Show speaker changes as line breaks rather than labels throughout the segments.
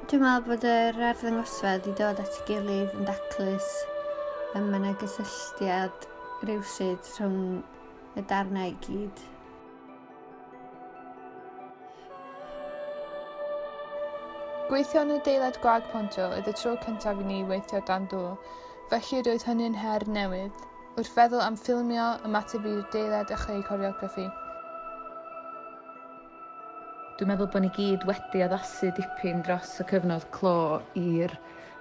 Dwi'n meddwl bod yr arddangosfedd i dod at ei gilydd yn daclus y mae yna gysylltiad rhywsyd rhwng y darnau i gyd.
Gweithio yn y deilad gwag pontio oedd y tro cyntaf i ni weithio dan do, felly roedd hynny'n her newydd. Wrth feddwl am ffilmio, ymateb i'r deilad a chreu coreograffi.
Dwi'n meddwl bod ni gyd wedi addasu dipyn dros y cyfnod clo i'r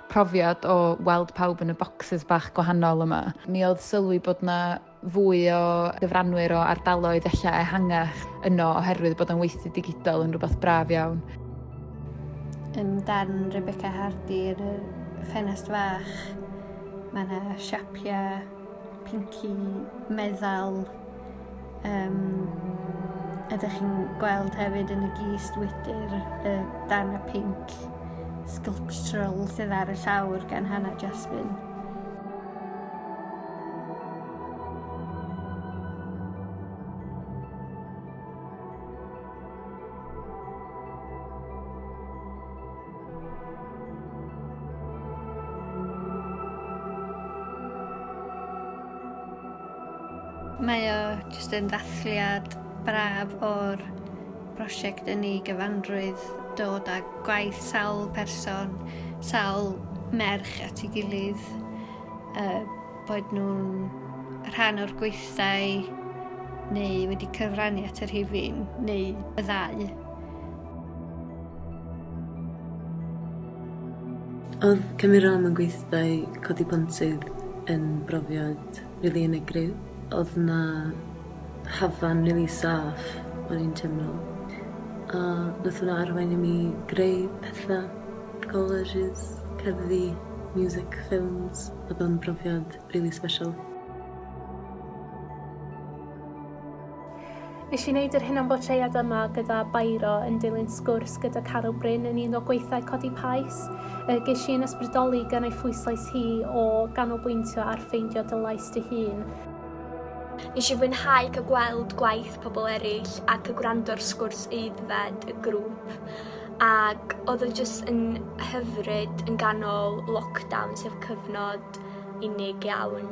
profiad o weld pawb yn y bocsys bach gwahanol yma. Mi oedd sylwi bod 'na fwy o gyfranwyr o ardaloedd ella ehangach yno oherwydd bod o'n weithdy digidol yn rhywbeth braf iawn.
Ym darn Rebecca Hardy yn y ffenest fach, mae yna siapiau pinci meddal um, ydych chi'n gweld hefyd yn y gist wydr y dan y pink sculptural sydd ar y llawr gan Hannah Jasmine. Mae o jyst yn ddathliad braf o'r prosiect yn ei gyfanrwydd, dod â gwaith sawl person, sawl merch at ei gilydd A bod nhw'n rhan o'r gweithdai neu wedi cyfrannu at y rhifin neu y ddau.
Oedd cymryd rhan mewn gweithdai codi pontydd yn brofiad rili unigryw. Oedd 'na hafan rili saff o'n i'n teimlo a nath hwnna arwain i mi greu petha. Colleges, cerddi, music, ffilms, odd o'n brofiad rili sbeshal.
Nesh i neud yr hunan bortread yma gyda Bairo yn dilyn sgwrs gyda Carol Bryn yn un o gweithau Codi Pais. Y gesh i'n ysbrydoli gan ei phwyslais hi o ganolbwyntio ar ffeindio dy lais dy hun.
Nes i fwynhau cael gweld gwaith pobl eraill ac y gwrando'r sgwrs aeddfed y grŵp. Ac odd o jyst yn hyfryd yn ganol lockdown sef cyfnod unig iawn.